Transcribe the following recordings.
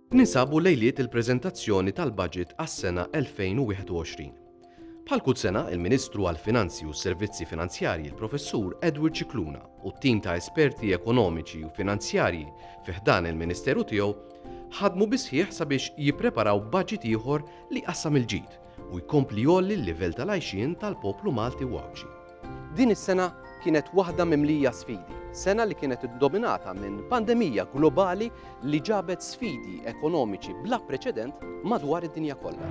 Ninsabu lejliet il-preżentazzjoni tal-baġit għas-sena 2021. Bħal kull sena, il-Ministru għall-Finanzi u s-Servizzi Finanzjarji l-Professur Edward Cicluna u t-tim ta' esperti ekonomiċi u finanzjarji fi ħdan il-Ministeru tiegħu ħadmu bisħieħ sabiex jippreparaw baġit ieħor li jqassam il-ġid u jkompli jgħolli l-livell tal-għajxien tal-poplu Malti u Għawdxi. Din is-sena kienet waħda mimlija sfidi, sena li kienet iddominata minn pandemija globali li ġabet sfidi ekonomiċi bla preċedent madwar id-dinja kollha.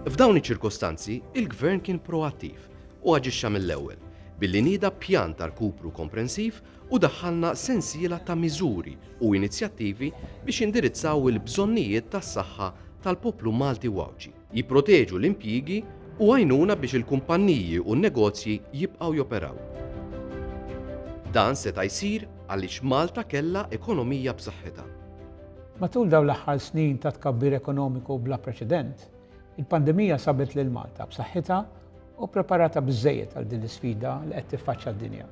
F'dawn iċ-ċirkostanzi, il-Gvern kien proattiv u aġixxa mill-ewwel billi nieda pjan ta' rkupru komprensiv u daħħalna sensiela ta' miżuri u inizjattivi biex jindirizzaw il-bżonnijiet tas-saħħa tal-poplu Malti u Għawdxi, jipproteġu l-impjiegi u għajnuna biex il-kumpanniji u n-negozji jibqgħu joperaw. Dan seta' jsir għaliex Malta kellha ekonomija b'saħħitha. Matul dawn l-aħħar snin ta' tkabbir ekonomiku bla preċedent, il-pandemija sabet lil Malta b'saħħitha u ppreparata biżżejjed għal din l-isfida li qed tiffaċċja d-dinja.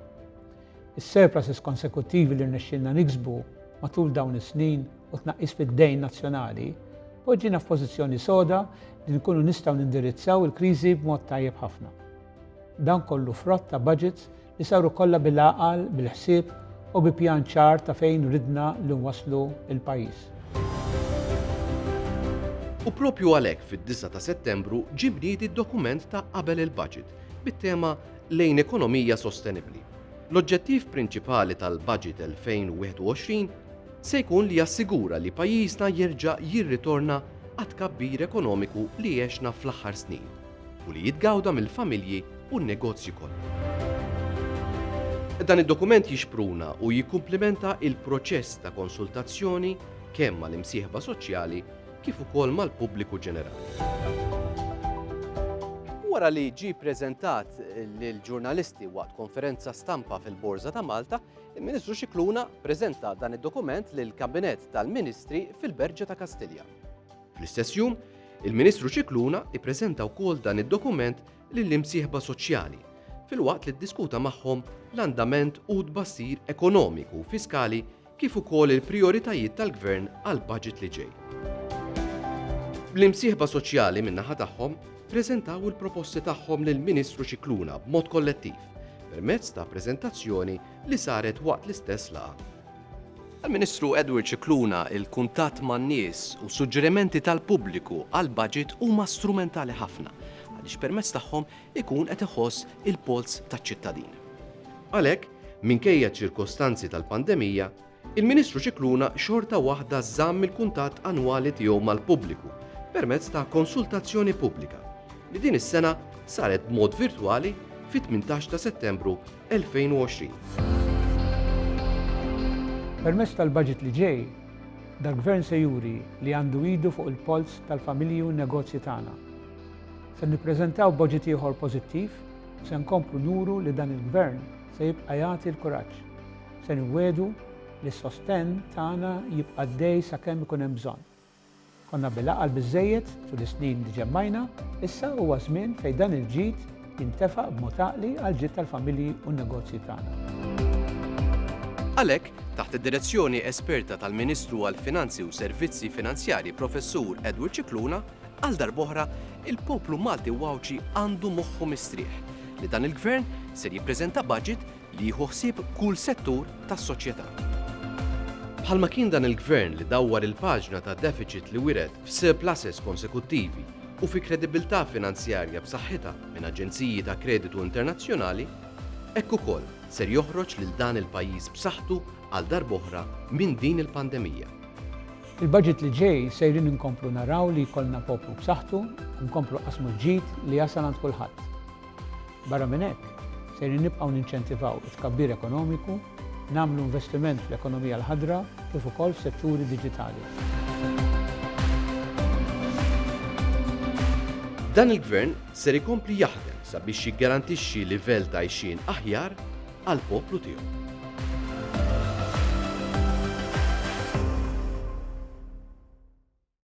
is-surpluses konsekuttivi li rnexxielna niksbu matul dawn is-snin u t-tnaqqis fid-dejn nazzjonali poġġina f'pożizzjoni soda li nkunu nistgħu nindirizzaw il-kriżi b'mod tajjeb ħafna. Dan kollu frott ta' baġits li saru kollha bil-għaqal, bil-ħsieb u bi pjan ċar ta' fejn ridna li nwasslu l-pajjiż. U proprju għalhekk fid-disgħa ta' Settembru ġie mniedi d-dokument ta' qabel il-baġit bit-tema lejn ekonomija sostenibbli. L-oġġettiv prinċipali tal-Baġit 2021 se jkun li jassigura li pajjiżna jerġa' jirritorna għat-tkabbir ekonomiku li għexna fl-aħħar snin u li jitgawda mill-familji u n-negozji kollha. Dan id-dokument jixpruna u jikkumplimenta l-proċess ta' konsultazzjoni kemm mal-imsieħba soċjali kif ukoll mal-pubbliku ġenerali. Wara li ġie ppreżentat lill-ġurnalisti waqt konferenza stampa fil-Borża ta' Malta, il-Ministru Scicluna ppreżenta dan id-dokument lill-Kabinett tal-Ministri fil-Berġa ta' Kastilja. Fl-istess jum, il-Ministru Scicluna ppreżenta wkoll dan id-dokument lill-imsieħba soċjali, filwaqt li ddiskuta magħhom l-andament u t-tbassir ekonomiku u fiskali kif ukoll il-prijoritajiet tal-Gvern għall-baġit li ġej. L-imsieħba soċjali min-naħa tagħhom ppreżentaw il-proposti tagħhom lill-Ministru Scicluna b'mod kollettiv permezz ta' preżentazzjoni li saret waqt l-istess laqgħa. Għall-Ministru Edward Scicluna, il-kuntatt man-nies u s-suġġerimenti tal-pubbliku għall-baġit huma strumentali ħafna għaliex permezz tagħhom ikun qed iħoss il-polz taċ-ċittadin. Għalhekk, minkejja ċ-ċirkostanzi tal-pandemija, il-Ministru Scicluna xorta waħda żamm il-kuntatt annwali tiegħu mal-pubbliku permezz ta' konsultazzjoni pubblika li din is-sena saret b'mod virtwali fit-18 ta' Settembru 2020. Permezz tal-budget li ġej, dal-Gvern se juri li għandu idu fuq il-polz tal-familji u n-negozji tagħna. Se nippreżentaw budget ieħor pożittiv u se nkomplu nuru li dan il-Gvern se jibqa' jagħti l-kuraġġ. Se niwiegħdu li s-sostenn tagħna jibqa' għaddej sakemm ikun hemm bżonn. Konna bil-għaqal biżżejjed tul is-snin li ġemmajna, issa huwa żmien fejn dan il-ġid jintefaq b'mod għaqli għall-ġid tal-familji u n-negozji tagħna. Għalhekk, taħt id-direzzjoni esperta tal-Ministru għall-Finanzi u Servizzi Finanzjarji Professur Edward Scicluna, Għal darb'oħra, il-poplu Malti u Għawdxi għandu moħħu mistrieħ li dan il-Gvern ser jippreżenta budget li jieħu ħsieb kull settur tas-soċjetà. Bħalma kien dan il-Gvern li dawwar il-paġna ta' defiċit li wiret f'surpluses konsekuttivi u fi kredibilità finanzjarja b'saħħitha minn aġenziji ta' kreditu internazzjonali, hekk ukoll ser joħroġ lil dan il-pajjiż b'saħħtu għal darb'oħra minn din il-pandemija. Il-budget li ġej sejrin inkomplu naraw li jkollna poplu b'saħħtu u nkomplu nqassmu l-ġid li jasal għand kulħadd. Barra minn hekk, sejrin nibqgħu ninċentivaw it-tkabbir ekonomiku, nagħmlu investiment fl-ekonomija l-ħadra kif ukoll f'setturi diġitali. Dan il-Gvern ser ikompli jaħdem sabiex jiggarantixxi livell t'għajxien aħjar għall-poplu tiegħu.